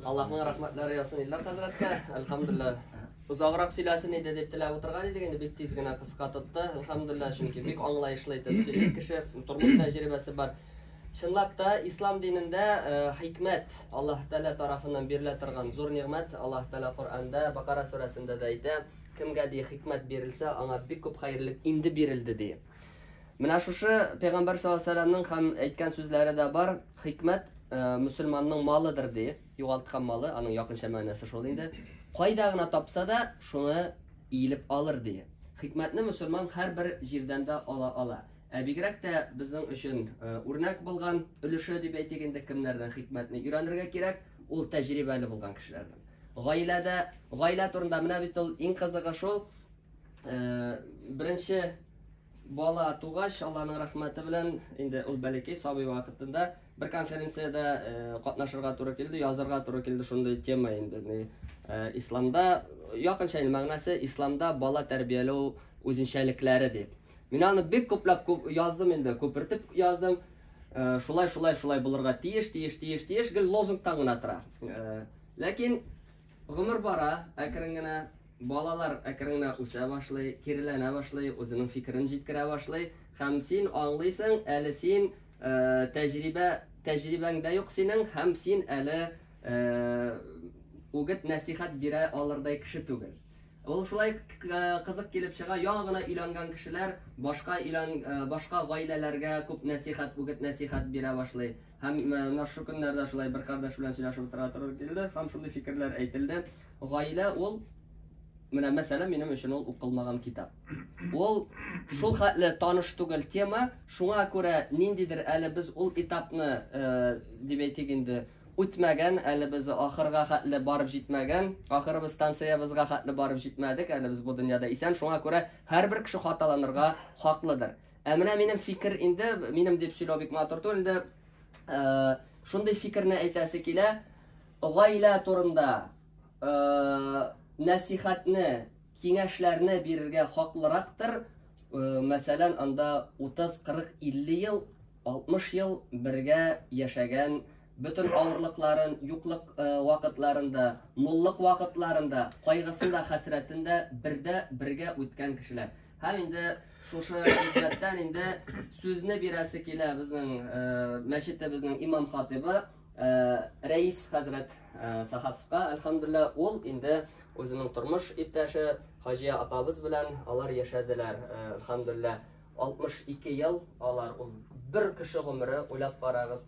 Аллаһның рәхмәтләре ясын Ильдар хәзрәткә. Әлхәмдулилла. Озаграк сөйләсен иде дип теләп утырган идек, инде бик тиз генә кыска тотты. Әлхәмдулилла, чөнки бик аңлаешлы итеп сөйли кеше, тормыш тәҗрибәсе бар. Чынлап та ислам динендә э, хикмәт Аллаһ Тәала тарафыннан бирелә торган зур нигъмәт. Аллаһ Тәала Коръәндә, Бакара сүрәсендә дә әйтә, кемгә ди хикмәт бирелсә, аңа бик күп хәерлек инде бирелде ди. Менә шушы пәйгамбәр саллаллаһу һәм әйткән сүзләре дә бар. Хикмәт э, мусульманның малыдыр ди. Югалткан малы, аның якынча мәгънәсе шул инде. Кайда гына тапса да, шуны иелеп алыр ди. Хикмәтне мусульман һәрбер җирдән дә ала ала. Ә бигрәк тә безнең өчен э, үрнәк булган өлеше дип әйтик инде кемнәрдән хикмәтне өйрәнергә кирәк, ул тәҗрибәле булган кешеләрдән. Гаиләдә, гаилә турында менә бит ул иң кызыгы шул, беренче бала тугач, Алланың рәхмәте белән, инде ул бәләкәй сабый вакытында бер конференциядә э, катнашырга туры килде, язырга туры килде шундый тема инде. Э, исламда якынча инде мәгънәсе исламда бала тәрбияләү үзенчәлекләре дип. Мин аны бик күпләп күп яздым инде, күпертеп яздым. Э, шулай, шулай, шулай булырга тиеш, тиеш, тиеш, тиеш, гел лозунгтан гына тора. Ләкин Гомер бара, әкрен генә. Балалар әкрен генә үсә башлый, киреләнә башлый, үзенең фикерен җиткерә башлый. Һәм син аңлыйсың, әле син тәҗрибә, тәҗрибәң дә юк синең, һәм син әле үгет нәсихәт бирә алырдай кеше түгел. Ул шулай кызык килеп чыга, яңа гына өйләнгән кешеләр башка өйлән, башка гаиләләргә күп нәсихәт, үгет нәсихәт бирә башлый. Һәм менә шу көннәрдә шулай бер кардәш белән сөйләшеп утыра туры килде, һәм шундый фикерләр әйтелде. Гаилә ул менә мәсәлән минем өчен ул укылмаган китап. Ул шул хәтле таныш түгел тема, шуңа күрә ниндидер әле без ул этапны, э, дип әйтик инде, үтмәгән, әле без ахырга хәтле барып җитмәгән, ахыры без станциябызга хәтле барып җитмәдек, әле без бу дөньяда исән, шуңа күрә һәрбер кеше хаталанырга хаклыдыр. Ә менә минем фикер инде, минем дип сөйләү бик матур түгел инде. Э, шундый фикерне әйтәсе килә. Гаилә турында э, нәсихатне, киңәшләрне бирергә хаклырактыр. Э, мәсәлән, анда 30, 40, 50 ел, 60 ел бергә яшәгән Бөтен авырлыкларын, юклык э, вакытларында, муллык вакытларында, кайгысында, хәсрәтендә бердә бергә үткән кешеләр. Һәм инде шушы хезмәттән инде сүзне бирәсе килә безнең э, мәчетебезнең имам хатибы э, Рәис хәзрәт Сахафка. Әлхәмдулла, ул инде үзенең тормыш иптәше Хаҗия апабыз белән алар яшәделәр. Әлхәмдулла, 62 ел алар ул бер кеше гомере уйлап карагыз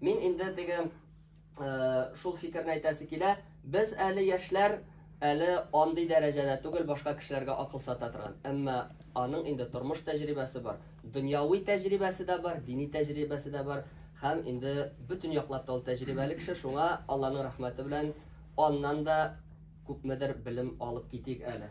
Мин инде теге шул фикерне әйтәсе килә. Без әле яшьләр әле андый дәрәҗәдә түгел башка кешеләргә акыл сата торган. Әмма аның инде тормыш тәҗрибәсе бар, дөньяви тәҗрибәсе дә бар, дини тәҗрибәсе дә бар һәм инде бөтен яклап та ул тәҗрибәле кеше. Шуңа Алланың рәхмәте белән аннан да күпмедер белем алып китик әле.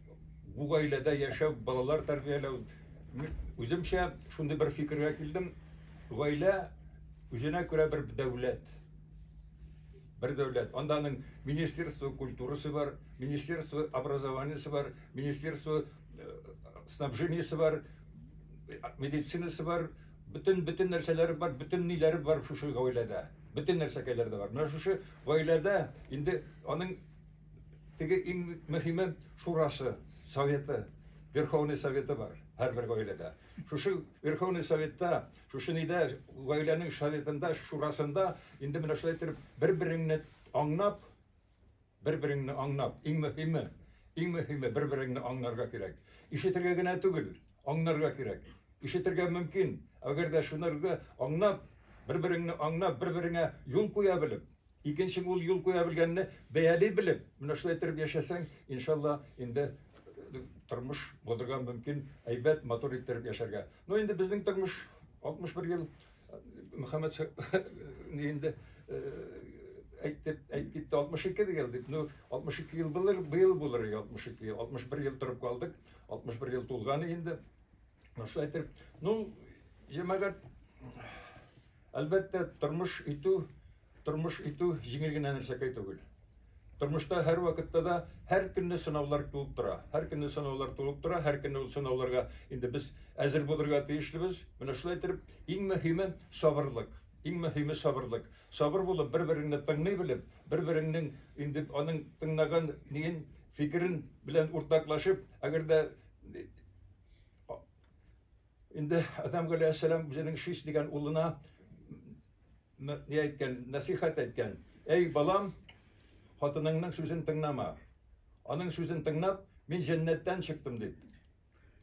бу гаиләдә яшәү, балалар тәрбияләү, үземчә шундый бер фикергә килдем, гаилә үзенә күрә бер дәүләт. Бер дәүләт. Анда аның министерство культурасы бар, министерство образованиясе бар, министерство э, снабжениясе бар, медицинасы бар, бөтен бөтен нәрсәләре бар, бөтен ниләре бар шушы гаиләдә. Бөтен нәрсәкәйләре дә бар. Менә шушы гаиләдә инде аның Теге иң мөһиме шурасы, советы, Верховный советы бар һәрбер гаиләдә. Шушы Верховный советта, шушы нидә гаиләнең советында, шурасында инде менә шулай итеп бер-береңне аңнап, бер-береңне аңнап, иң мөһиме, иң мөһиме бер-береңне аңнарга кирәк. Ишетергә генә түгел, аңнарга кирәк. Ишетергә мөмкин, әгәр дә шунырга аңнап, бер-береңне аңнап, бер-береңә юл куя белеп, Икенче бул юл куя белгәнне бәяли белеп, менә шулай итеп яшәсәң, иншалла, инде э, тормыш булырга мөмкин, әйбәт, матур итеп яшәргә. Но инде безнең тормыш 61 ел э, Мөхәммәд инде э, әйтеп әйтеп китте 62 ел дип. Ну 62 ел булыр, быел булыр 62 ел. 61 ел торып калдык. 61 ел тулганы инде. Шулай итеп, ну җәмәгать Әлбәттә, тормыш итү, тормыш итү җиңел генә нәрсәкәй түгел. Тормышта һәр вакытта да һәр көнне сынаулар туып тора. Һәр көнне сынаулар туып тора, һәр көнне ул сынауларга инде без әзер булырга тиешлебез. Менә шулай итеп, иң мөһиме сабырлык. Иң мөһиме сабырлык. Сабыр булып, бер-береңне тыңлый белеп, бер-береңнең инде аның тыңлаган ниен, фикерен белән уртаклашып, әгәр дә Инде Адам галәйһиссәлам үзенең Шис дигән улына ни әйткән, насихат әйткән. Әй балам, хатыныңның сүзен тыңлама. Аның сүзен тыңлап, мин җәннәттән чыктым дип.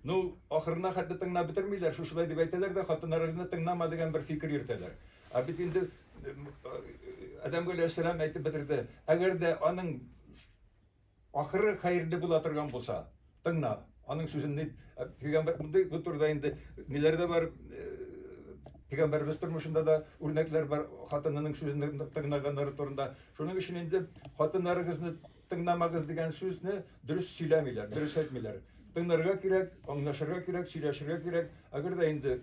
Ну, ахырына хәтле тыңлап бетермиләр, шушылай дип әйтәләр дә, хатыннарыгызны тыңлама дигән бер фикер йөртәләр. Ә бит инде Адам галәйһиссәлам әйтеп бетерде. Әгәр дә аның Ахыры хәерле була торган булса, тыңна. Аның сүзен дип, э, пигамбер мондый бу турыда инде ниләрдә бар э, пигамбербез тормышында да үрнәкләр бар, хатынының сүзен тыңлаганнары турында. Шуның өчен инде хатыннарыгызны тыңламагыз дигән сүзне дөрес сөйләмиләр, дөрес әйтмиләр. Тыңларга кирәк, аңлашырга кирәк, сөйләшергә кирәк. Әгәр дә инде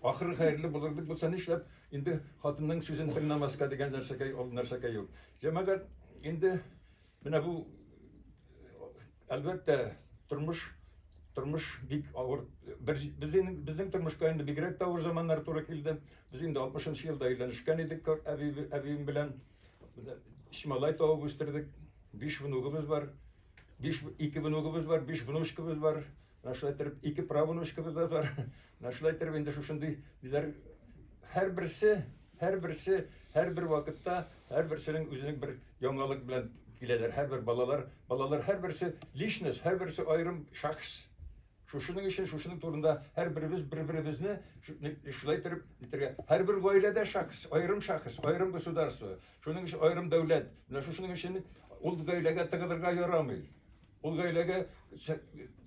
Ахыры хәерле булыр дип булса нишләп, инде хатынның сүзен тыңламаска дигән нәрсәкәй ул нәрсәкәй юк. Җәмәгать инде менә бу әлбәттә тормыш тормыш бик авыр бер безнең безнең тормышка инде бигрәк тә авыр заманнар туры килде. Без инде 60 елда өйләнешкән идек әби әбием белән. Өч малай табып үстердек. Биш внугыбыз бар. Биш ике внугыбыз бар, биш внучкабыз бар. Менә шулай иттереп ике правонучкабыз да бар. Менә шулай иттереп инде шушындый диләр. Һәрберсе, һәрберсе, һәрбер вакытта, һәрберсенең үзенең бер яңалык белән киләләр. Һәрбер балалар, балалар һәрберсе личность, һәрберсе аерым шәхес. Шушының өчен, шушының турында һәрберебез бер-беребезне шулай иттереп итергә. Һәрбер гаиләдә шәхес, аерым шәхес, аерым государство. Шуның өчен аерым дәүләт. Менә шушының өчен ул гаиләгә тыгылырга ярамый. Ул гаиләгә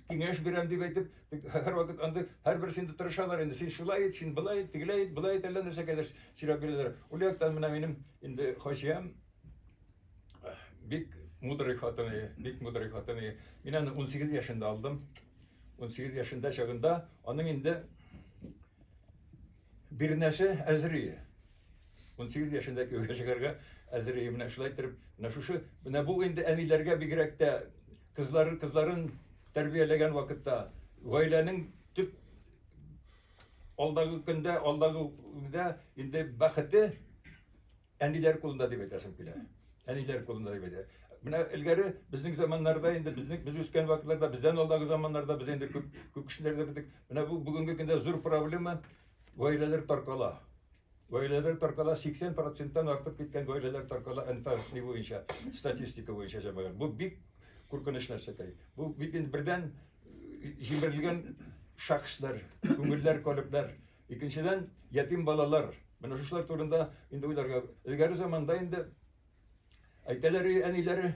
киңәш бирәм дип әйтеп, һәрвакыт анда һәрбер синде тырышалар инде. Син шулай ит, син былай ит, тегеләй ит, былай ит, әллә нәрсә кадәр сөйләп бирәләр. Ул яктан менә минем инде хаҗиям бик мудрый хатын, бик мудрый хатын. Мин аны 18 яшендә алдым. 18 яшендә чагында аның инде Бирнәсе Әзрие. 18 яшендә кияүгә чыгарга Әзрие менә шулай итеп, менә шушы, менә бу инде әниләргә бигрәк тә кызларын кызларын тәрбияләгән вакытта гаиләнең төп алдагы көндә, алдагы көндә инде бәхете Әниләр кулында дип әйтәсем килә. Әниләр кулында дип әйтә. Менә элгәре безнең заманнарда инде безнең без үскән вакытларда бездән алдагы заманнарда без инде күп күп кешеләрдә бетик. Менә бу бүгенге көндә зур проблема гаиләләр таркала. Гаиләләр таркала 80%-тан артып киткән гаиләләр таркала инфаркт буенча статистика буенча җәмәгать. Бу бик куркыныч нәрсәкәй. Бу бит инде бердән җимерелгән шәхесләр, күңелләр, калебләр Икенчедән, ятим балалар. Менә шушылар турында инде уйларга. Элгәре заманда инде әйтәләр әниләре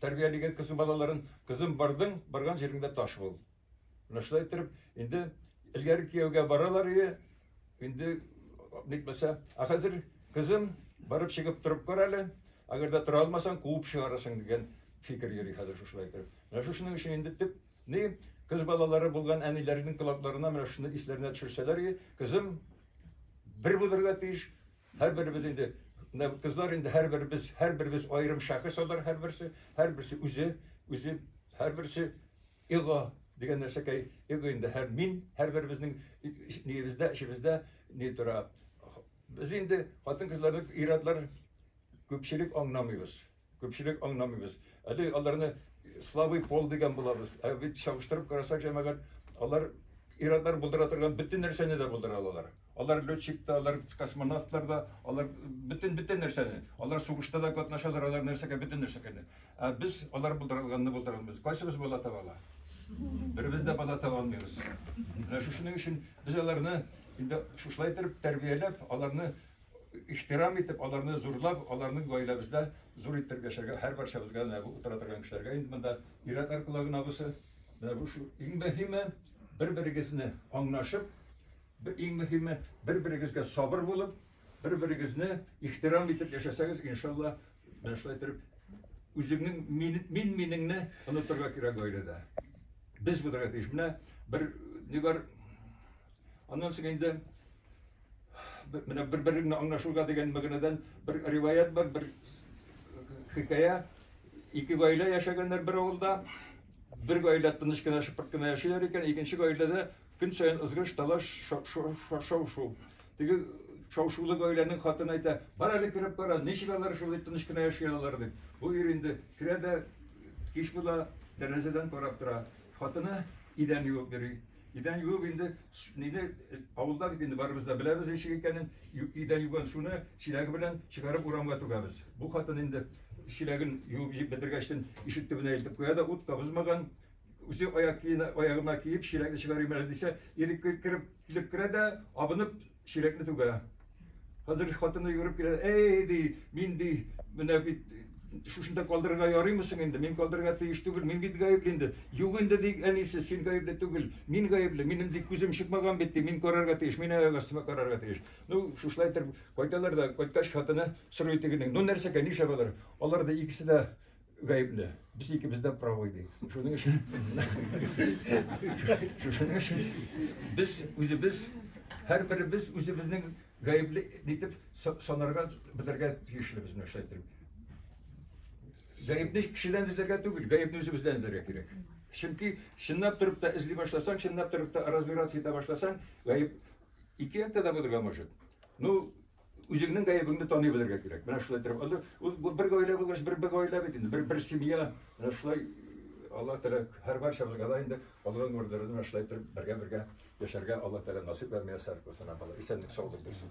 тәрбиялегән кыз балаларын, кызым бардың, барган җиреңдә таш бул. Менә шулай итеп, инде элгәре кияүгә баралар ие, инде нитмәсә, а хәзер кызым барып чыгып торып кар әле, әгәр дә тора алмасаң, куып чыгарасың дигән фикер йөри хәзер шушылай итеп. Менә шушының өчен инде төп Ни, кыз балалары булган әниләрнең колакларына менә шуны исләренә төшерсәләр иде, кызым бер булырга тиеш, һәрберебез инде менә кызлар инде һәрберебез, һәрберебез аерым шәхес алар һәрберсе, һәрберсе үзе, үзе һәрберсе эго дигән нәрсәкәй, эго инде һәр мин, һәрберебезнең ниебездә, эчебездә ни тора. Без инде хатын-кызларны ир-атлар күпчелек аңламыйбыз. Күпчелек аңламыйбыз. Әле аларны слабый пол дигән булабыз. Ә бит чагыштырып карасак, җәмәгать, алар ир-атлар булдыра торган бөтен нәрсәне дә булдыра алалар. Алар летчик та, алар космонавтлар да, алар бөтен бөтен нәрсәне. Алар сугышта да катнашалар, алар нәрсәгә бөтен нәрсәгә. Ә без алар булдыра алганны булдыра алмыйбыз. Кайсыбыз бала таба ала? Беребез дә бала таба алмыйбыз. Менә шушының өчен без аларны инде шушылай итеп тәрбияләп, аларны ихтирам итеп, аларны зурлап, аларны гаиләбездә зур иттереп яшәргә, һәрбарчабызга менә бу утыра торган кешеләргә инде монда ир-атлар колагына бусы. Менә бу шул иң мөһиме, бер-берегезне аңлашып, иң мөһиме, бер-берегезгә сабыр булып, бер-берегезне ихтирам итеп яшәсәгез, иншалла, менә шулай итеп үзеңнең мин мин минеңне онытырга кирәк гаиләдә. Без булырга тиеш. Менә бер ни бар, Аннан соң инде менә бер-береңне аңлашуга дигән мәгънәдән бер риваять бар, бер хикая. Ике гаилә яшәгәннәр бер авылда. Бер гаилә тыныч кына шыпырт кына яшиләр икән, икенче гаиләдә көн саен ызгыш, талаш, шау-шу. Теге шау-шулы гаиләнең хатыны әйтә, бар әле кереп кара, ничек алар шулай тыныч кына яши алалар дип. Бу ир инде керә дә кич була, тәрәзәдән карап тора. Хатыны идән юып йөри. Идән юып инде нине авылда бит инде барыбыз да беләбез ничек икәнен. Идән юган суны чиләге белән чыгарып урамга түгәбез. Бу хатын инде чиләген юып җип бетергәчтен ишек төбенә илтеп куя да ут та бозмаган. Үзе аяк киеме аягына киеп чиләгне чыгарыйм әле дисә, ир кереп килеп керә дә абынып Чирәкне түгә. Хәзер хатыны йөгереп килә, әй, ди, мин, ди, менә бит шушында калдырырга ярыймы соң инде? Мин калдырырга тиеш түгел, мин бит гаепле инде. Юк инде, ди, әнисе, син гаепле түгел, мин гаепле, минем ди күзем чыкмаган бит, ди, мин карарга тиеш, мин аяк астыма карарга тиеш. Ну, шушылай итеп кайталар да, кайткач хатыны сорый тегенең, ну нәрсәгә, нишләп алар? Алар да икесе дә Гаепле. Без икебез дә правый ди. Шуның өчен Шуның өчен без үзебез һәрберебез үзебезнең гаепле дип санарга белергә тиешлебез менә шулай итеп. Гаепне кешедән эзләргә түгел, гаепне үзебездән эзләргә кирәк. Чөнки чынлап торып та эзли башласаң, чынлап торып та разбираться итә башласаң, гаеп ике яктан да булырга может. Ну, Үзеңнең гаебеңне таный белергә кирәк. Менә шулай торып, анда бу бер гаилә булгач, бер бер гаилә бит инде, бер бер семья. Менә шулай Алла Тәгалә һәр барчабызга да инде калган гомерләрен менә шулай торып бергә-бергә яшәргә Алла Тәгалә насыйп һәм миясәр кылсын, Алла. Исәнлек, саулык бирсен.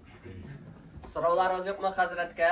Сорауларыгыз юкмы хәзрәткә?